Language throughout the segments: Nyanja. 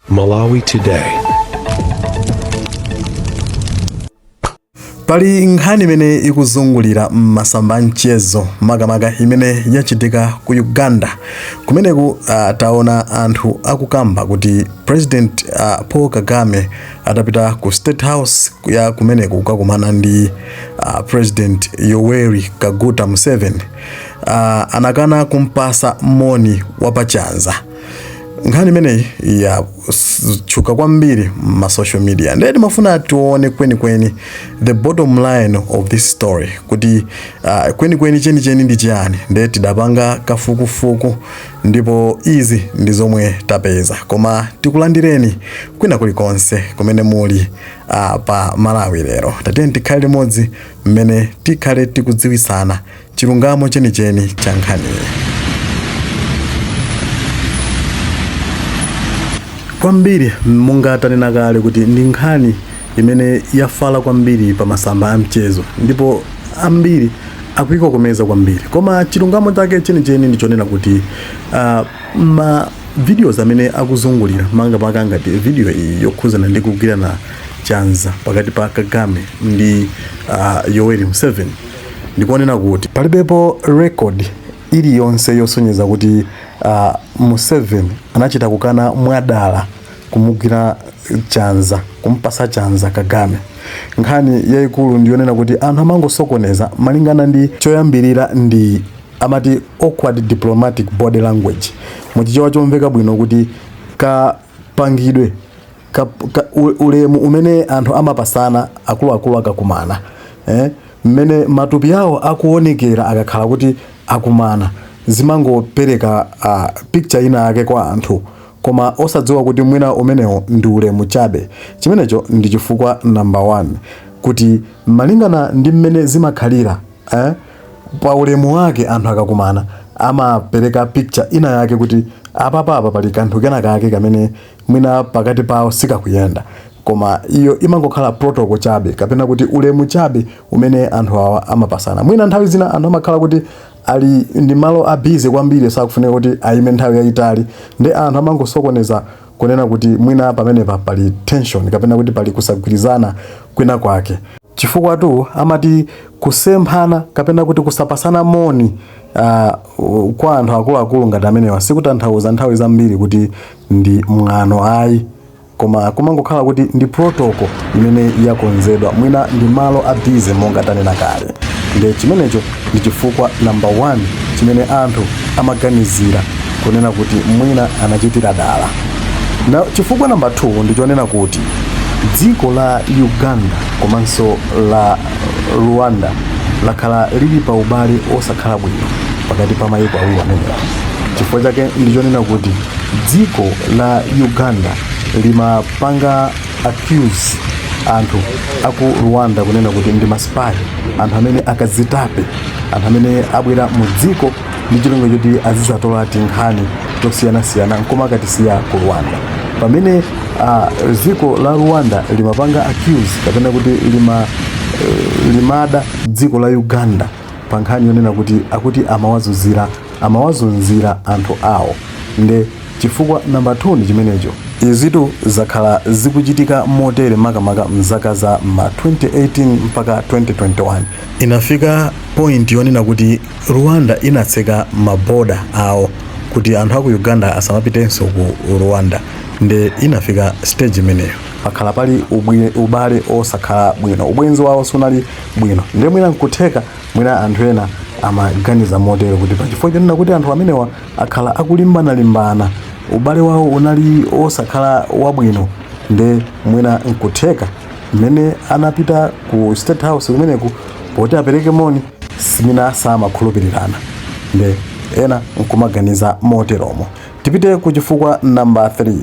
Malawi Today. pali nkhani imene ikuzungulira m'masamba a mchezo makamaka imene yachitika ku Uganda kumeneko uh, taona anthu akukamba kuti President uh, Paul Kagame atapita ku state house ya kumeneko kukakumana ndi uh, President Yoweri Kaguta Museveni uh, anakana kumpatsa moni wapachanza nkhani imeneyi yatchuka kwambiri m'ma social media ndiye timafuna tione kwenikweni the bottom line of this story kuti uh, kwenikweni chenicheni ndi chiyani ndiye tidapanga kafukufuku ndipo izi ndi zomwe tapeza koma tikulandireni kwina kulikonse kumene muli uh, pa Malawi lero tatiyeni tikhale limodzi mmene tikhale tikudziwisana chilungamo chenicheni cha nkhaniyi. kwambiri monga tanena kale kuti ndi nkhani imene yafala kwambiri pa masamba a mchezo ndipo ambiri akuikokomeza kwambiri koma chilungamo chake chenicheni ndi chonena kuti uh, ma videos amene akuzungulira makamaka ngati video iyi yokhuzana ndi kugwirana chanza pakati pa Kagame ndi uh, Yoweri Museveni ndi konena kuti palibepo record iliyonse yosonyeza kuti uh, Museveni anachita kukana mwadala kumugwira chanza kumpatsa chanza Kagame. Nkhani yayikulu ndiyonena kuti anthu amangosokoneza malingana ndi choyambirira ndi amati awkward diplomatic body language muchichewa chomveka bwino kuti kapangidwe ka, ka, u- ulemu umene anthu amapatsana akuluakulu akakumana eh? mmene matupi awo akuonekera akakhala kuti akumana zimangopereka uh, picture ina yake kwa anthu koma osadziwa kuti mwina umenewo ndi ulemu chabe chimenecho ndi chifukwa number one kuti malingana ndi mmene zimakhalira eh? pa ulemu wake anthu akakumana amapereka picture ina yake kuti apapapa pali kanthu kena kake kamene mwina pakati pawo sikakuyenda koma iyo imangokhala protocol chabe kapena kuti ulemu chabe umene anthu awa amapatsana mwina nthawi zina anthu amakhala kuti ali ndi malo a busy kwambiri sakufunika kuti ayime nthawi yayitali ndiye anthu amangosokoneza kunena kuti mwina pamenepa pali tension kapena kuti pali kusagwirizana kwina kwake chifukwa two amati kusemphana kapena kuti kusapatsana moni uh, kwa anthu akuluakulu ngati amenewa sikutanthauza nthawi zambiri kuti ndi mwano ayi koma kumangokhala kuti ndi protocol imene yakonzedwa mwina ndi malo a busy monga tanena kale nde chimenecho ndi chifukwa number one chimene anthu amaganizira kunena kuti mwina anachitira dala chifukwa namba 2 ndi chonena kuti dziko la uganda komanso la rwanda lakhala lili pa ubale osakhala bwino pakati pa mayiko awiri amenewa chifukwa chake ndi chonena kuti dziko la uganda limapanga accuse anthu aku rwanda kunena kuti ndi masipayi anthu amene akazitape anthu amene abwera mu dziko ndi cholinga choti azizatola tinkhani tosiyanasiyana nkumakatisiya ku rwanda pamene ah, dziko la rwanda limapanga accuse kapena kuti lima, eh, limada dziko la uganda pa nkhani yonena kuti akuti amawazunzira amawazunzira anthu awo nde chifukwa namba 2 ndi chimenecho izitu zakhala zikuchitika motere makamaka mzaka za ma 2018 mpaka 2021 inafika point yonena kuti rwanda inatseka maboda awo kuti anthu aku uganda asamapitenso ku rwanda nde inafika stage imeneyo pakhala pali ubwire, ubale osakhala bwino ubwenzi wawo sunali bwino ndiye mwina nkutheka mwina anthu ena amaganiza motero kuti pachifukwa chonena kuti anthu amenewa akhala akulimbanalimbana ubale wawo unali osakhala wabwino nde mwina nkutheka mmene anapita ku state house kumeneku poti apereke moni nde mwina samakhulupirirana nde ena nkumaganiza moteromo tipite ku chifukwa namba 3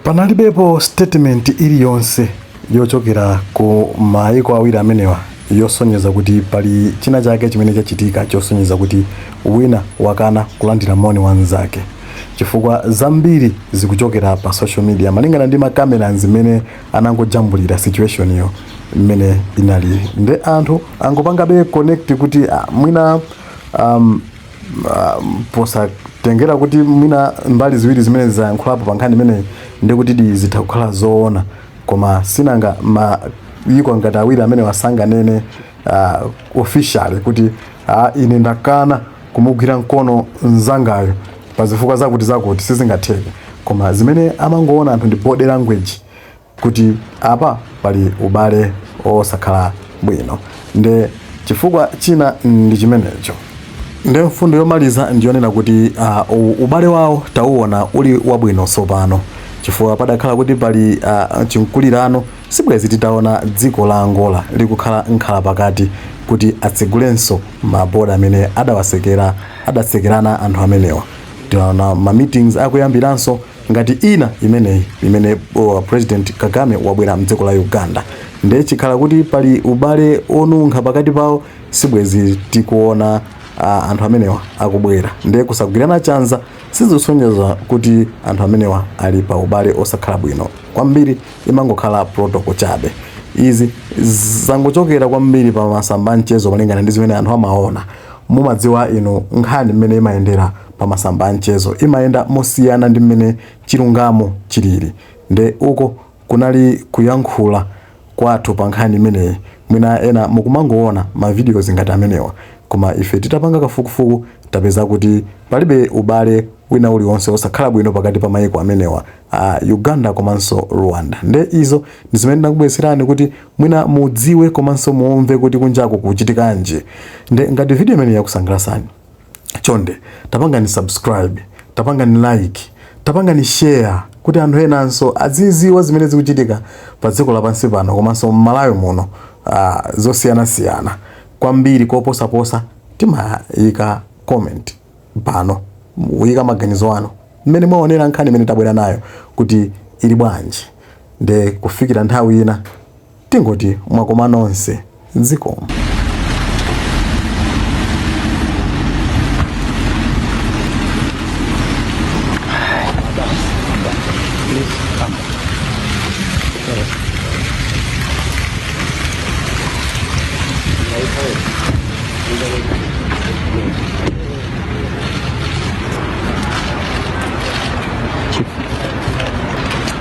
panalibepo statement iliyonse yochokera ku maiko awiri amenewa yosonyeza kuti pali china chake chimene chachitika chosonyeza kuti wina wakana kulandira moni wa mnzake chifukwa zambiri zikuchokera pa social media malingana ndi makameraz mmene anangojambulira situation yo mmene inali nde anthu angopangabe connect kuti ah, mwina um, posatengera kuti mwina mbali ziwiri zimenezi zayankhulapo pa nkhani imeneyi ndi kuti di zitha kukhala zoona koma sinanga mayiko ngati awiri amenewa sanganene uh, officially kuti uh, ine ndakana kumugwira mkono mnzangayo pa zifukwa zakuti zakuti sizingatheke koma zimene amangoona anthu ndi body language kuti apa pali ubale osakhala bwino nde chifukwa china ndi chimenecho nde mfundo yomaliza ndiyonena kuti uh, ubale wawo tauona uli wabwino tsopano chifukwa padakhala kuti pali uh, chimkulirano sibwezi titaona dziko la angola likukhala mkhalapakati kuti atsegulenso maboda amene adawatsekera adatsekerana anthu amenewa tinaona ma meetings akuyambiranso ngati ina imeneyi imene uh, president kagame wabwera mdziko la uganda nde chikhala kuti pali ubale onunkha pakati pawo sibwezi tikuona uh, anthu amenewa akubwera nde kusagwirana chanza sizisonyeza kuti anthu amenewa ali pa ubale osakhala bwino kwambiri imangokhala protocol chabe izi zangochokera kwambiri pa masamba a mchezo malingana ndi zimene anthu amaona mumadziwa inu nkhani mmene imayendera pa masamba a mchezo imayenda mosiyana ndi mmene chilungamo chilili nde uko kunali kuyankhula kwathu pa nkhani imeneyi mwina ena mukumangoona ma videos ngati amenewa koma ife titapanga kafukufuku tapeza kuti palibe ubale wina uliwonse osakhala bwino pakati pa mayiko amenewa a Uganda komanso Rwanda nde izo ndi zimene ndinakubweretserani kuti mwina mudziwe komanso mumve kuti kunjako kuchitikanji nde ngati video imeneyi yakusangalasani chonde tapangani subscribe tapangani like tapangani share kuti anthu enanso aziziwa zimene zikuchitika pa dziko lapansi pano komanso mmalawi muno uh, zosiyanasiyana kwambiri koposaposa timayika comment pano muyike maganizo anu mmene mwaonera nkhani imene tabwera nayo kuti ili bwanji nde kufikira nthawi ina tingoti mwakoma nonse zikomo.